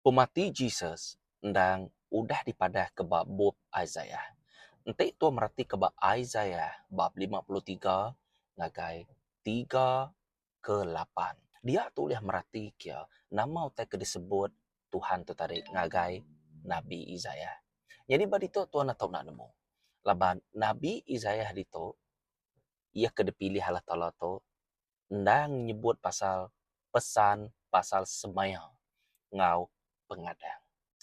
Pemati Jesus endang udah dipadahka ba bup Isaiah. Enti tua meratika ba Isaiah bab lima puluh tiga ngagai tiga ke lapan, dia tu ulih meratika nama utai ke disebut Tuhan tu tadi ngagai nabi Isaiah. Nyadi ba ditu tua natu enda nemu. Laban nabi Isaiah ditu. iya ke dipilih Allah Taala tu endang nyebut pasal pesan pasal semaya enggau pengadang.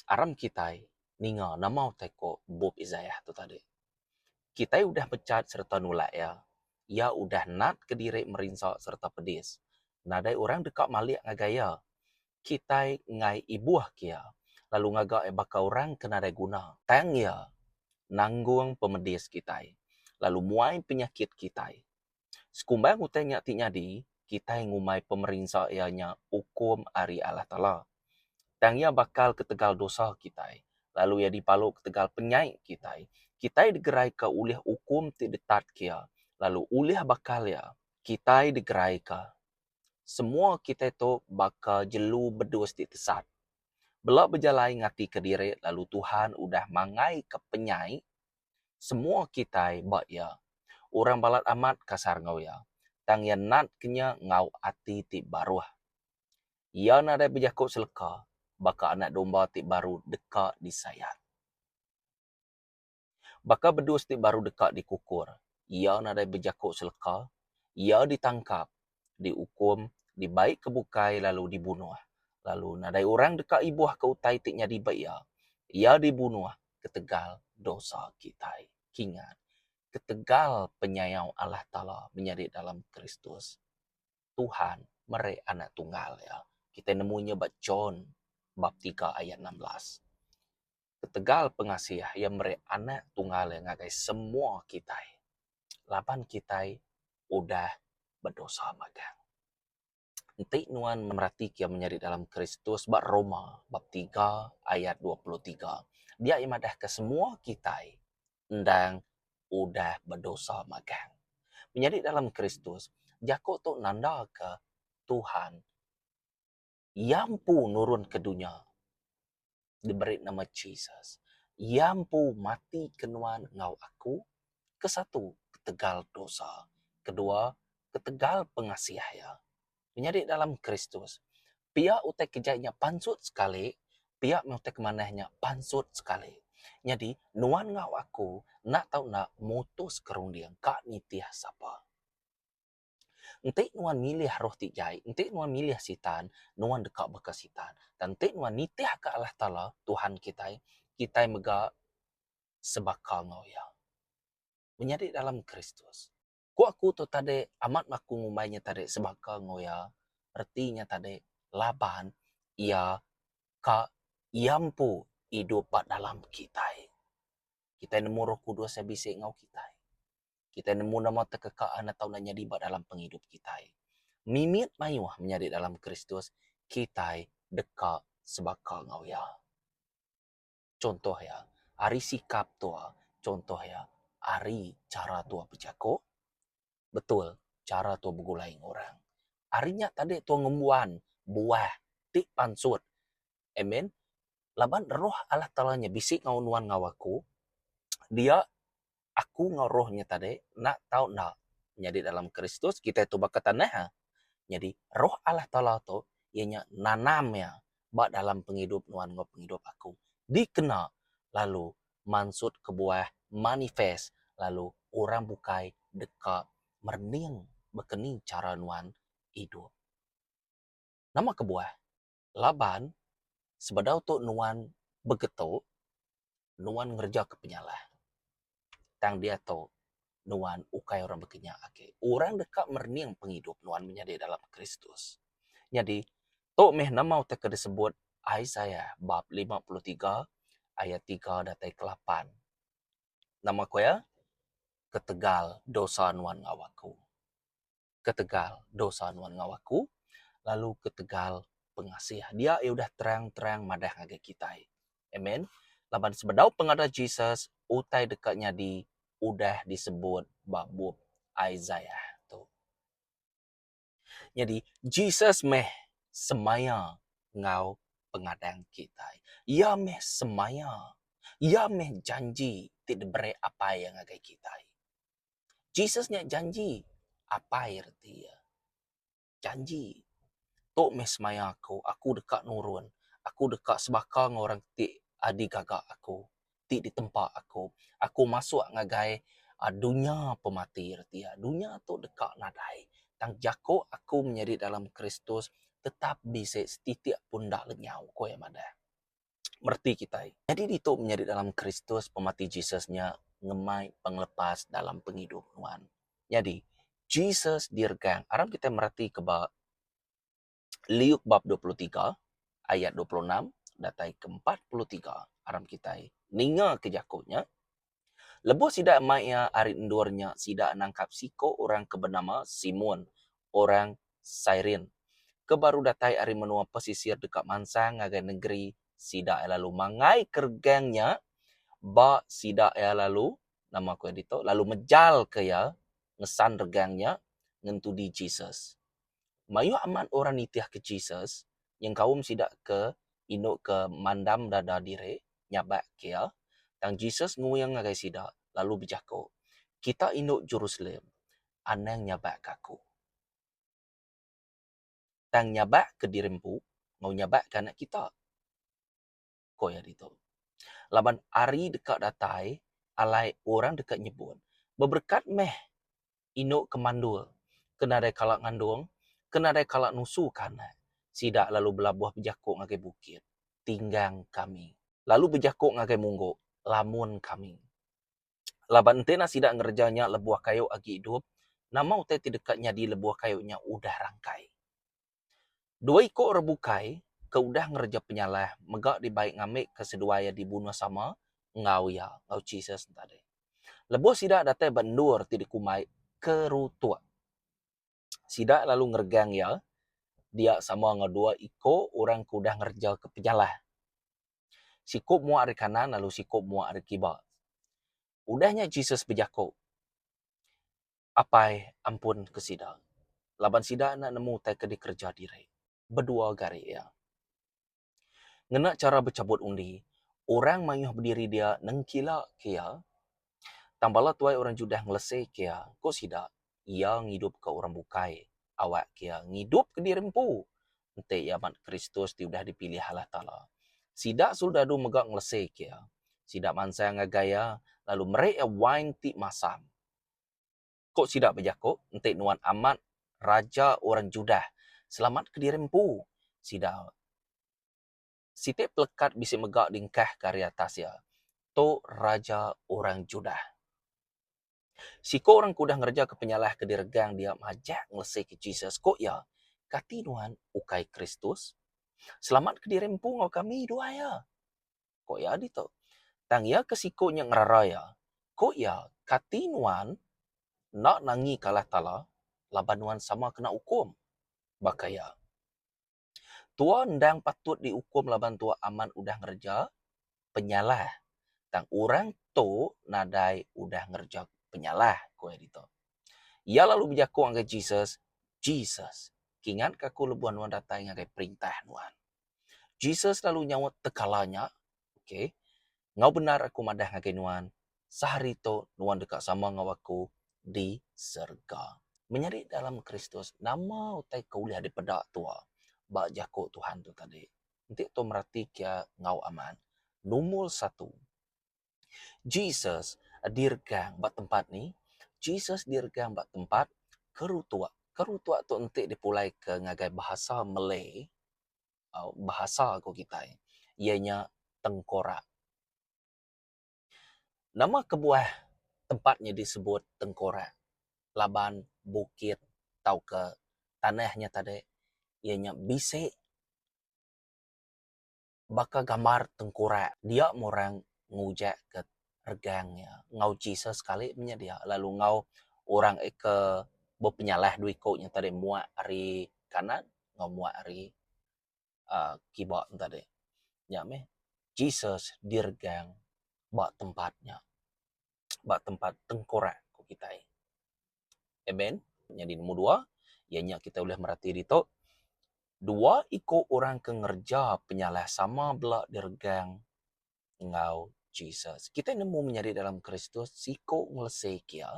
Aram kitai ninga nama utai ku bup Isaiah tu tadi. Kitai udah mechat sereta nulak iya. Iya udah natka diri merinsa sereta pedis. Nadai orang deka malik ngagai iya. kitai enggai ibuh ke iya lalu ngaga iya baka orang ke nadai guna. Tang iya nanggung pemedis kitai lalu muai penyakit kitai. Sekumbang utai nya ti nyadi, kitai ngumbai pemerinsa iya nya ukum ari Allah Taala. Tang iya bakal ketegal dosa kitai lalu iya dipalu ketegal penyai kitai. Kitai digeraika ulih ukum ti detat ke iya lalu ulih bakal iya kitai digeraika Semua kitai tu baka jelu bedus ti tesat. Bela bejalai ngatika diri lalu Tuhan udah mangaika penyai semua kitai ba Iya. Orang balat amat kasar enggau Iya, tang Iya natka nya enggau ati ti baruh. Iya nadai bejaku seleka baka anak domba ti baru deka disayat. Baka bedus ti baru deka dikukur, iya nadai bejaku seleka, iya ditangkap, diukum, dibaika bukai lalu dibunuh. Lalu nadai orang deka ibuhka utai ti nyadi ba iya. Iya dibunuh ketegal dosa kitai. Kingat, ketegal penyayau Allah Taala menyadi dalam Kristus. Tuhan meri Anak Tunggal Iya. Kitai nemu nya ba John bab tiga ayat enam belas. ketegal pengasih iya meri Anak Tunggal iya ngagai semua kitai laban kitai udah bedosa magang. Enti nuan meratika iya menyadi dalam Kristus ba Roma bab tiga ayat dua puluh tiga, dia iya madahka semua kitai endang udah bedosa magang. Menyadi dalam Kristus, jaku tu nandaka Tuhan. Iya empu nurun ke dunya diberi nama Jesus. Iya empu mati ke nuan enggau aku, ke satu ketegal dosa, ke dua ketegal pengasih iya. Menyadi dalam Kristus, pia utai ke jai nya pansut sekali, pia meh utai ke manah nya pansut sekali. Nyadi nuan enggau aku enda tau enda mutuska runding ka nitih sapa. Enti nuan milih roh ti jai, enti nuan milih Sitan, nuan deka baka Sitan. Tang enti nuan nitihka Allah Taala, Tuhan kitai, kitai mega sebaka enggau Iya. Menyadi dalam Kristus. Ku aku tu tadi, amat aku ngumbai nya tadi sebaka enggau Iya, reti nya tadi laban Iya ka Iya empu idup ba dalam kitai. Kitai nemu Roh Kudus Iya bisi enggau kitai. kitai nemu nama tekeka anak tau enda nyadi ba dalam pengidup kitai. Mimit mayuh menyadi dalam Kristus, kitai deka sebaka enggau Iya. Chunto Iya ari sikap tuha, chunto Iya ari chara tuha bejako, betul chara tuha begulai enggau orang. Ari nya tadi tuha ngembuan buah ti pansut Amen. Laban roh Allah Taala nya bisi enggau nuan enggau aku, dia aku enggau roh nya tadi enda tau enda nyadi dalam Kristus, kitai tu baka tanah a. Nyadi roh Allah Taala tu iya nya nanam iya ba dalam pengidup nuan enggau pengidup aku dikena lalu mansut kebuah manifest lalu orang bukai deka merening baka ni chara nuan idup. Nama kebuah? Laban, sebedau tu nuan begetu, nuan ngerejaka penyalah. Tang diatu, nuan ukai orang bekenya agi. Orang deka merening pengidup nuan menyadi dalam Kristus. Nyadi, tu meh nama utai ke disebut Isaiah bab lima puluh tiga ayat tiga datai ke lapan. Nama ku iya? Ketegal dosa nuan enggau aku. ketegal dosa nuan enggau aku, lalu ketegal pengasih dia iya udah terang-terang madah ngagai kitai. Amen. Laban sebedau pengadah Jesus, utai deka nyadi udah disebut ba bup Isaiah tu. Nyadi, Jesus meh semaya enggau pengadang kitai. Iya meh semaya. Iya meh janji ti diberi Apai iya ngagai kitai. Jesus nya janji Apai reti iya. Janji. Tu meh semaya aku, aku deka nurun, aku deka sebaka enggau orang ti adi gaga aku, ti ditempa aku. Aku masuk ngagai aaa dunya pemati reti iya. Dunya tu deka nadai. Tang jaku aku menyadi dalam Kristus tetap bisi setitik pun enda lenyau, ku iya madah. mereti kitai. Nyadi ditu menyadi dalam Kristus pemati Jesus nya ngemai pengelepas dalam pengidup nuan. Nyadi, Jesus diregang. Aram kitai meretika ba Liuk bab dua puluh tiga ayat dua puluh enam datai ke empat puluh tiga, aram kitai ningaka jaku nya, Lebuh sida mai iya ari endur nya, sida nangkap siko orang ke benama Simon, orang Cyrene, ke baru datai ari menua pesisir deka mansang ngagai nengeri sida iya lalu mangai keregang nya ba sida iya lalu, nama ku iya ditu, lalu mejalka iya ngesan regang nya ngentudi Jesus. Mayuh amat orang nitihka Jesus nyengkaum sida ke indu ke mandam dada diri nyabak Kia. Tang Jesus nguing ngagai sida lalu bejaku, Kita indu Jerusalem anang nyabak ke Aku. Tang nyabak ke diri empu enggau nyabak ke anak kita. ko iya ditu. Laban ari deka datai alai orang deka nyebut, Beberekat meh indu ke mandul ke nadai kala ngandung, ke nadai kala nusuka anak. Sida lalu belabuh bejako ngagai bukit, Tinggang kami! Lalu bejako ngagai munggu, Lamun kami! Laban enti enda sida ngereja nya lebuh kayu agi idup, nama utai ti deka nyadi lebuh kayu nya udah rangkai? Dua iku orang bukai ke udah ngereja penyalah mega dibai ngambika seduai iya dibunuh sama enggau iya, enggau Jesus enti tadi. Lebuh sida datai ba endur ti dikumbai Kerutuk, sida lalu ngeregang iya dia sama enggau dua iku orang ke udah ngereja ke penyalah. Siku muak ari kanan lalu siku muak ari kiba. Udah nya Jesus bejaku. Apai ampun ke sida laban sida enda nemu utai ke dikereja diri bedua gari iya. Ngena chara bechabut undi, orang mayuh bediri dia nengkila ke iya, tang bala tuai orang Judah ngelese ke iya, ku sida, Iya ngidupka orang bukai, awakka iya ngidupka diri empu, enti iya mat Kristus ti udah dipilih Allah Taala. Sida soldadu mega ngelese ke iya. Sida mansang ngagai iya, lalu meri iya wain ti masam. Ko sida bejako, Enti nuan amat raja orang Judah, selamatka diri empu. Sida siti pelekat bisi mega diengkahka ari atas iya, Tu raja orang Judah. Siko orang ke udah ngerejaka penyalah ke diregang dia majak ngelesika Jesus, ko iya, Kati nuan ukai Kristus? Selamatka diri empu enggau kami, duai iya. ku iya ditu. Tang iya ke siku nya ngerara iya, ku iya, Kati nuan enda nanggi ke Allah Taala laban nuan sama kena ukum? Baka iya, tu'a endang patut diukum laban tu'a amat udah ngereja penyalah, tang orang tu nadai udah ngereja penyalah, ku iya ditu. Iya lalu bejaku ngagai Jesus, Jesus, kingatka aku lebuh nuan datai ngagai perintah nuan. Jesus lalu nyaut tekala nya, Okay, enggau bendar Aku madah ngagai nuan, sehari tu nuan deka sama enggau Aku di serega. Menyadi dalam Kristus, nama utai ke ulih dipeda tua ba jaku Tuhan tu tadi? Enti tua meratika enggau amat, Numur satu, Jesus dirgang ba tempat ni? Jesus dirgang ba tempat kerutuk. Kerutuk tu enti dipulaika ngagai bahasa Malay, bahasa ku kitai, iya nya tengkorak. Nama kebuah tempat nya disebut tengkorak? Laban bukit tauka tanah nya tadi iya nya bisi. baka gambar tengkurak dia meh orang ngujak ke regang iya enggau Jesus kali penyedia lalu enggau orang eh ke bepenyalah dua iku nya tadi muak ari kanan enggau muak ari aaa kiba nya tadi. Nya meh Jesus diregang ba tempat nya ba tempat tengkurak ku kitai. Amen. Nyadi nombor dua, iya nya kita ulih merati ditu, dua iku orang ke ngereja penyalah sama bela diregang enggau Jesus. Kita nemu menyadi dalam Kristus, siku ngelesika iya,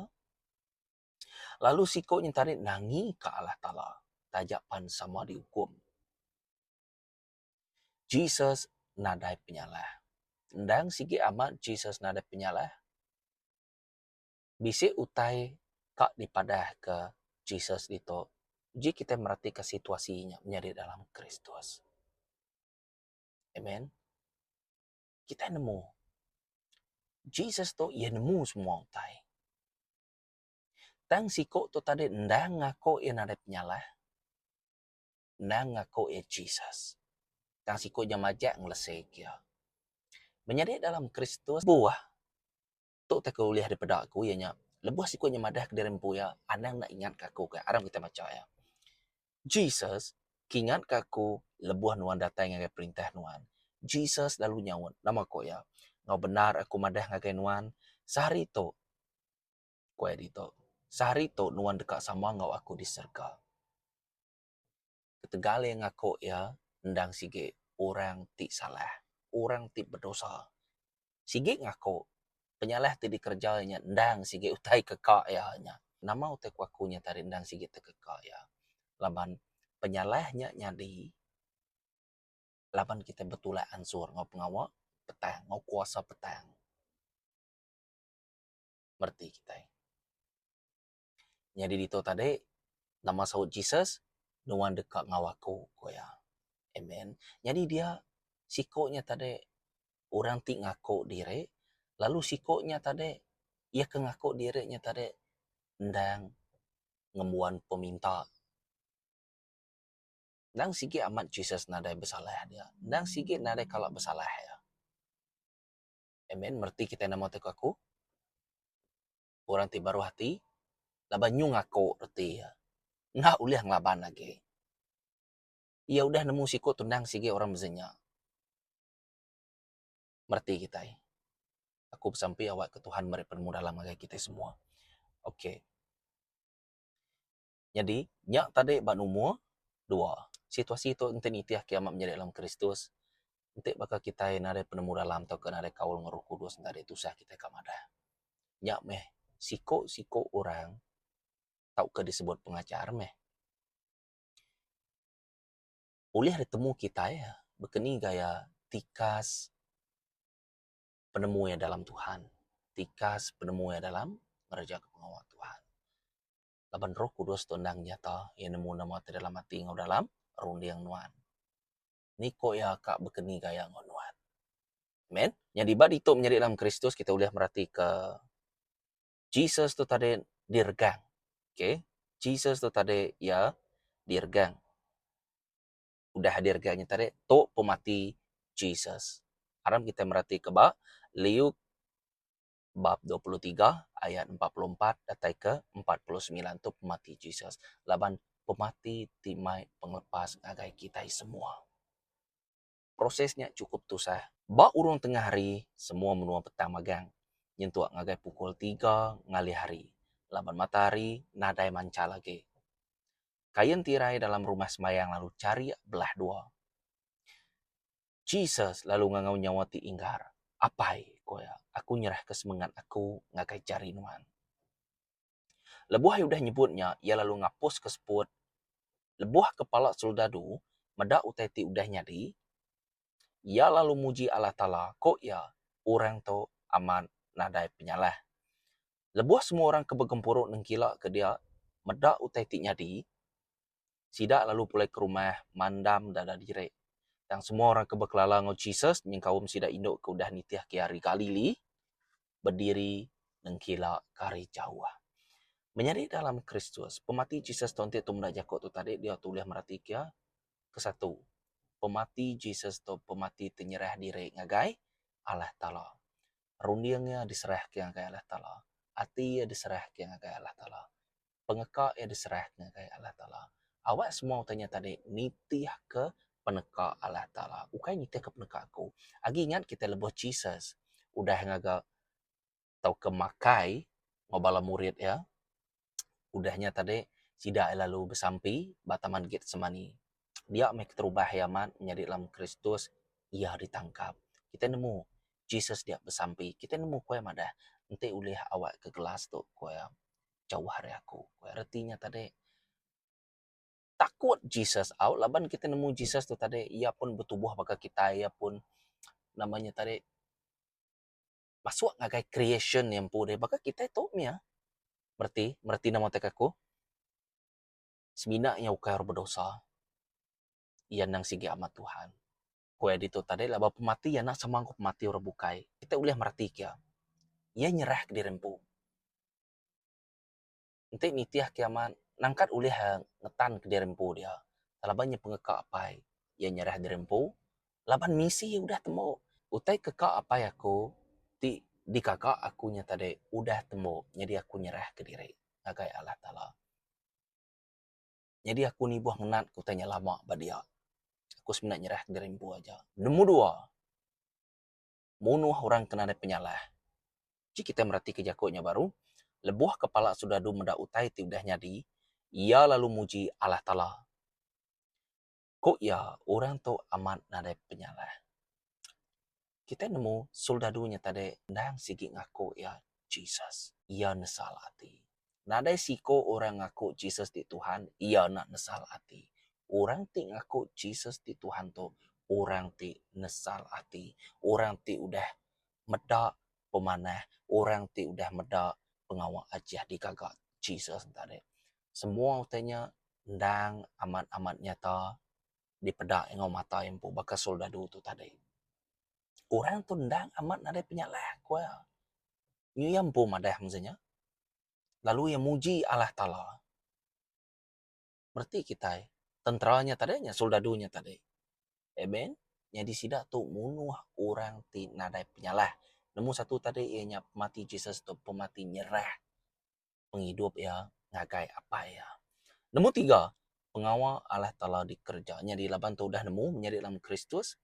lalu siku nya tadi nangika Allah Taala taja pan sama diukum. Jesus nadai penyalah. Endang sigi amat Jesus nadai penyalah. bisi utai ka dipadahka Jesus ditu uji kitai meratika situasi nya menyadi dalam Kristus. Amen. Kitai nemu Jesus tu iya nemu semua utai. Tang siku tu tadi endang ngaku iya nadai penyalah. Endang ngaku iya Jesus. Tang siku nya majak ngelesek iya. Menyadi dalam Kristus buah Tu utai ke ulih dipeda aku iya nya lebuh siku inya madah ke diri empu iya anang enda ingat ka aku kai aram kitai macha iya. Jesus ke ingat ka aku lebuh nuan datai ngagai perintah nuan. Jesus lalu nyaut nama ko iya enggau bendar aku madah ngagai nuan sehari tu ko iya ditu sehari tu nuan deka sama enggau aku di serega. Ketegal iya ngaku iya endang sigi orang ti salah, orang ti bedosa. Sigi ngaku penyalah ti dikereja iya nya endang sigi utai keka iya nya. Nama utai ku aku nya tadi endang sigi utai keka iya? Laban penyalah nya nyadi laban kitai betulak ansur enggau pengawa petang enggau kuasa petang mereti kitai. Nyadi ditu tadi, nama saut Jesus, Nuan deka enggau aku, ku iya. Amen. Nyadi dia siku nya tadi orang ti ngaku diri lalu siku nya tadi iya ke ngaku diri nya tadi endang ngembuan peminta. Endang sigi amat Jesus nadai besalah dia. Endang sigi nadai kala besalah iya. Amen. Reti kitai nemu ti ke aku. orang ti baruh ati laban nyung aku reti iya enda ulih ngelaban agi. Iya udah nemu siku tunang sigi orang mezi nya. Mereti kitai. Aku besampi awakka Tuhan meri penemu dalam ngagai kitai semua. Okay. Nyadi, nya tadi ba numur dua. Situasi tu enti nitih ke amat menyadi dalam Kristus, enti baka kitai nadai penemu dalam tauka nadai kaul enggau Roh Kudus enda deh tusah kitai ka madah. Nya meh siku-siku orang tauka disebut pengajar meh ulih ditemu kitai baka ni gaya tikas penemu iya dalam Tuhan, tikas penemu iya dalam ngereja pengawa Tuhan. laban roh kudus tu endang nyata iya nemu nama ti dalam ati enggau dalam runding nuan. Ni ko iya ka bekeni gaya enggau nuan. Amen. Nyadi ba ditu menyadi dalam kristus kita ulih merati ke Jesus tu tadi di regang. Okay. Jesus tu tadi iya di regang. Udah di regang nya tadi tu pemati Jesus. Aram kita merati ke ba Liuk bab dua puluh tiga ayat empat puluh empat datai ke empat puluh semilan tu pemati Jesus laban pemati ti mai pengelepas ngagai kitai semua. Proses nya chukup tusah. Ba urung tengah hari semua menua petang magang nyentuk ngagai pukul tiga ngalih hari laban matahari nadai manchal agi. Kain tirai dalam rumah sembahyang lalu charik belah dua. Jesus lalu ngangau nyawa ti inggar. Apai, ku iya, aku nyerahka semengat aku ngagai jari Nuan. Lebuh iya udah nyebut nya, iya lalu ngapuska seput. Lebuh kepala soldadu meda utai ti udah nyadi, iya lalu muji Allah Taala, ku iya, Orang tu amat nadai penyalah. Lebuh semua orang ke begempuru nengkilaka dia meda utai ti nyadi, sida lalu pulai ke rumah mandam dada diri. Tang semua orang ke bekelala enggau Jesus nyengkaum sida indu ke udah nitihka ari Galili bediri nengkila ke ari jauh. Menyadi dalam Kristus, pemati Jesus tau enti tu meda jaku tu tadi dia tu ulih meratika iya. Kesatu, pemati Jesus tu pemati ti nyerah diri ngagai Allah Taala. Runding iya diserahka ngagai Allah Taala. Ati iya diserahka ngagai Allah Taala. pengeka iya diserah ngagai Allah Taala. Awak semua utai nya tadi nitihka peneka Allah Taala ukai nitihka peneka aku. Agi ingat kita lebuh Jesus udah ngaga tauka makai enggau bala murid iya udah nya tadi sida lalu besampi ba taman Getsemani. Dia meh keterubah iya amat nyadi Lam Kristus iya ditangkap. Kita nemu Jesus dia besampi. Kita nemu kuai madah enti ulih awakka gelas tu, ku iya. jauh ari aku. Ku iya reti nya tadi. Takut Jesus au laban kitai nemu Jesus tu tadi iya pun betubuh baka kitai iya pun nama nya tadi masuk ngagai creation nya empu deh baka kitai tu mia bereti bereti nama teka aku semina iya ukai orang bedosa iya nang sigi amat Tuhan. Ku iya ditu tadi, laban pemati iya enda sama enggau pemati orang bukai, kitai ulih meratika iya. Iya nyerahka diri empu. Enti nitih kiamat, nangkat ulih ngetanka diri empu dia laban iya pengeka Apai. Iya nyerah diri empu laban misi iya udah tembu. Utai keka Apai aku ti dikaka aku nya tadi udah tembu, nyadi aku nyerahka diri ngagai Allah Taala. Nyadi aku nibuh ngenat ke utai nya lama ba dia. Aku semina nyerahka diri empu aja. Nemu dua, munuh orang ke nadai penyalah. Ji kitai meratika jaku nya baru, lebuh kepala soldadu meda utai ti udah nyadi, iya lalu muji Allah Taala. Ku iya, orang tu amat nadai penyalah. Kitai nemu soldadu nya tadi endang sigi ngaku iya Jesus. Iya nesal ati. Nadai seiku orang ngaku Jesus ti Tuhan, iya enda nesal ati. Orang ti ngaku Jesus ti Tuhan tu orang ti nesal ati, orang ti udah meda pemanah, orang ti udah meda pengawa Aji digaga Jesus tadi. Semua utai nya endang amat-amat nyata dipeda enggau mata iya empu baka soldadu tu tadi. Orang tu endang amat nadai penyalah ku iya. Nyi iya empu madah mung seh nya lalu iya muji Allah Taala. Bereti kitai tentera nya tadi nya soldadu nya tadi eh Ben nyadi sida tu munuh orang ti nadai penyalah. Nombor satu tadi iya nya pemati Jesus tu pemati nyerah. pengidup iya ngagai apai iya. Nombor tiga, pengawa Allah Taala dikereja. Nyadi laban tu udah nemu menyadi dalam Kristus,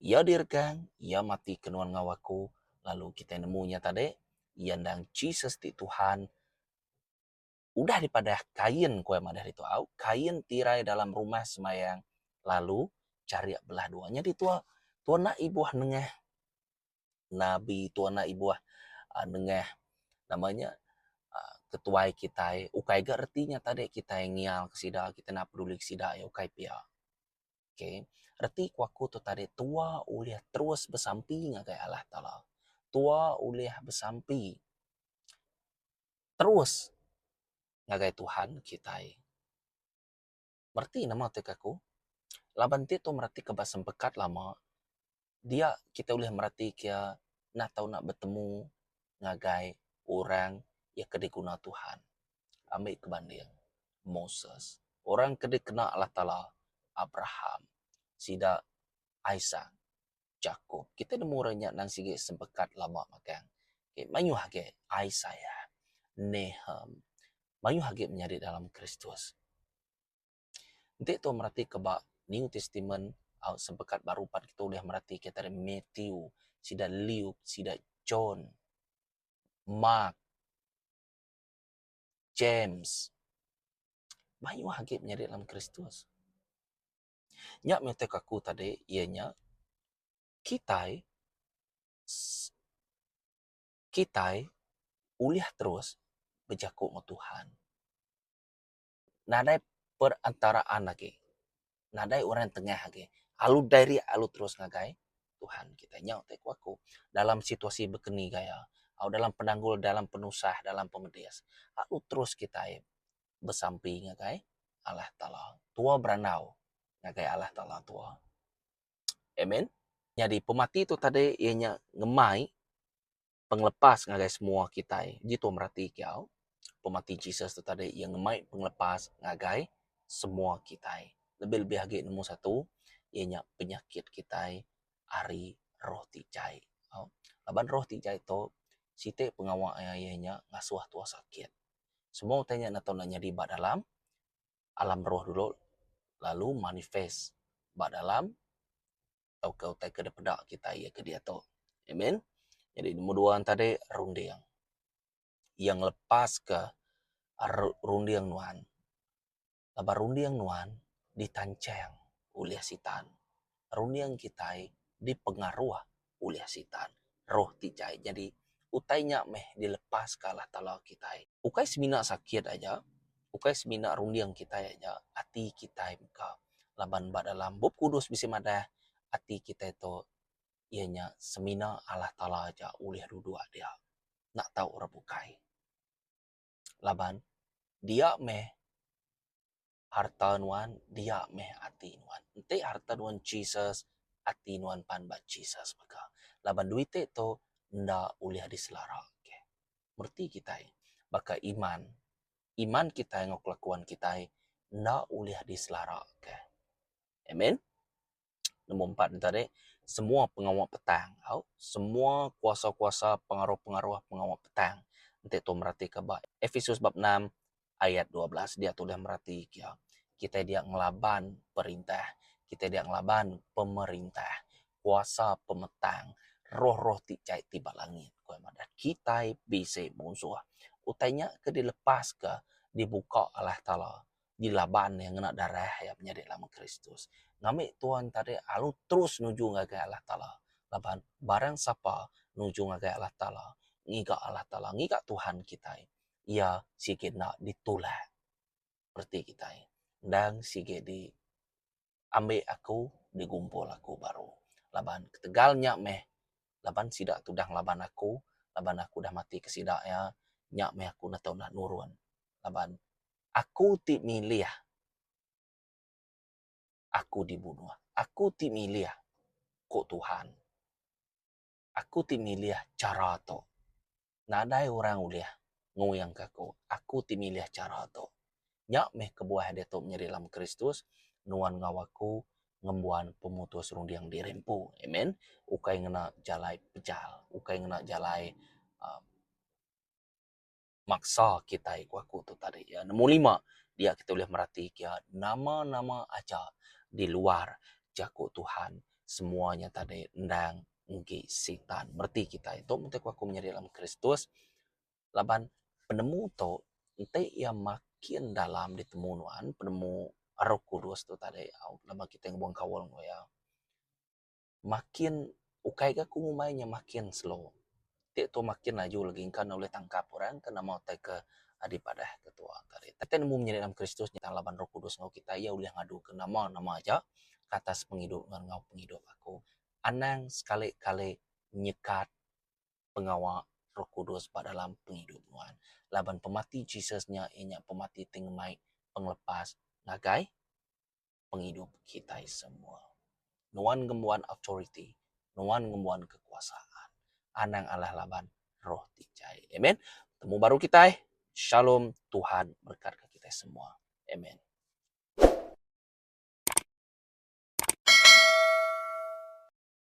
iya diregang, iya mati ke nuan enggau aku, lalu kitai nemu iya tadi, iya endang Jesus ti Tuhan. Udah dipadah kain ku iya madah ditu au, kain tirai dalam rumah sembahyang lalu charik belah dua. Nyadi tuan, tuan enda ibuh nengah. nabi tua enda ibuh nengah nama nya ketuai kitai ukai ga reti nya tadi kitai ngial ke sida kitai naak peduli ke sida nya ukai pia okay reti ku aku tu tadi tua ulih terus besampi ngagai Allah taala tua ulih besampi terus ngagai Tuhan kitai. mereti nama ti ke aku laban ti tu mereti ke ba sempekat lama dia kita ulih mereti ke ia enda tau nak betemu ngagai orang ia ke diguna Tuhan. Ambi ke banding Moses orang ke dikena Allah Taala Abraham sida Isaac jaku kita nemu orang nya nan sigi sempekat lama magang ke mayuh agi Isaiah Nahum mayuh agi menyadi dalam Kristus. Enti tau mereti ke ba New Testament au sempekat baru pan kita ulih mereti kitai ari Matthew sida Luke sida John Mark James mayuh agi menyadi dalam Kristus. Nya matik aku tadi iya nya kitai se kitai ulih terus bejaku enggau Tuhan. Nadai perantaraan agi. Nadai orang tengah agi. Alu diri alu terus ngagai Tuhan kitai. Nya ti ku aku dalam situasi bekeni gaya au dalam penanggul dalam penusah dalam pemedis alu terus kitai besampi ngagai Allah Taala tua berandau ngagai Allah Taala tua. Amen. Nyadi pemati tu tadi iya nya ngemai pengelepas ngagai semua kitai. Uji tuan berati kiyau pemati Jesus tu tadi iya ngemai pengelepas ngagai semua kitai lebih lebih agi nemu satu iya nya penyakit kitai ari roh ti jai tau. Laban roh ti jai tu siti pengawa iya nya ngasuh tua sakit. semua utai nya enda tau enda nyadi ba dalam alam roh dulu lalu manifest ba dalam tauka utai ke dipeda kitai iya ke diatu. Amen. Jadi nombor dua enta tadi runding. Iya ngelepaska runding nuan. laban runding nuan ditanchang ulih Sitan. Runding kitai dipengaruh ulih Sitan, roh ti jai. Nyadi, utai nya meh dilepaska Allah Taala kitai. Ukai semina sakit aja, ukai semina runding kitai aja, ati kitai mega. Laban ba dalam Bup Kudus bisi madah, ati kitai tu iya nya semina Allah Taala aja ulih duduk dia. Enda tau orang bukai. Laban, dia meh harta nuan, dia meh ati nuan. Enti harta nuan Jesus, ati nuan pan ba Jesus mega. Laban duit ti tu enda ulih diselarake. Reti kitai baka iman, iman kitai enggau kelakuan kitai enda ulih diselarake. Amen. Nombor empat nya tadi semua pengawa petang au semua kuasa-kuasa pengaruh-pengaruh pengawa petang enti tuan meratika ba Episus bab enam ayat dua belas dia tulis merati kia kitai dia ngelaban perintah kitai dia ngelaban pemerintah kuasa pemetang roh-roh ti jai ti ba langit ku iya madah kitai bisi munsuh utai nya ke dilepaska dibuka Allah Taala. di laban iya ngena darah iya menyadi lama Kristus. Ngambi tuan tadi alu terus nuju ngagai Allah Taala laban barang sapa nuju ngagai Allah Taala ngiga Allah Taala ngiga Tuhan kitai iya sigi enda ditulak reti kitai endang sigi di ambi aku digumpul aku baru laban ketegal nya meh laban sida tudang laban aku laban aku udah mati ke sida iya nya meh aku enda tau enda nurun laban aku ti milih aku dibunuh aku ti milih ku Tuhan. Aku ti milih chara tu. Nadai orang ulih ngoyangka aku. Aku ti milih chara tu. Nya meh kebuah diatu menyadi dalam Kristus, nuan enggau aku ngembuan pemutus runding diri empu. Amen. Ukai ngena jalai pejal. Ukai ngena jalai uhh. maksa kitai ku aku tu tadi ya. Nombor lima, dia kitai ulih merati ke nama-nama aja di luar jaku Tuhan semua nya tadi endang enggi Sitan mereti kitai. Tu mung ti ku aku menyadi dalam Kristus laban penemu tu enti iya makin dalam ditemu nuan penemu Roh Kudus tu tadi au lama kitai ngebuan kaul enggau iya. makin ukai ga ku ngumbai nya makin slow ti tu makin laju lagi engka ne ulih tangkap orang ke nama utai ke dipadah ke tuwa ke ari. Tapi ne mung nyadi dalam Kristus nyengkang laban Roh Kudus ngaul kitai iya ulih ngadu ke nama nama aja ke atas pengidup ngan enggau pengidup aku. Anang sekali kali nyekat pengawa Roh Kudus ba dalam pengidup nuan laban pemati Jesus nya iya nya pemati ti ngemai pengelepas ngagai. pengidup kitai semua. Nuan ngembuan authority, nuan ngembuan kekuasaan. Anang alah laban roh ti jai. Amen. Temu baru kitai. Shalom. Tuhan berekatka kitai semua. Amen.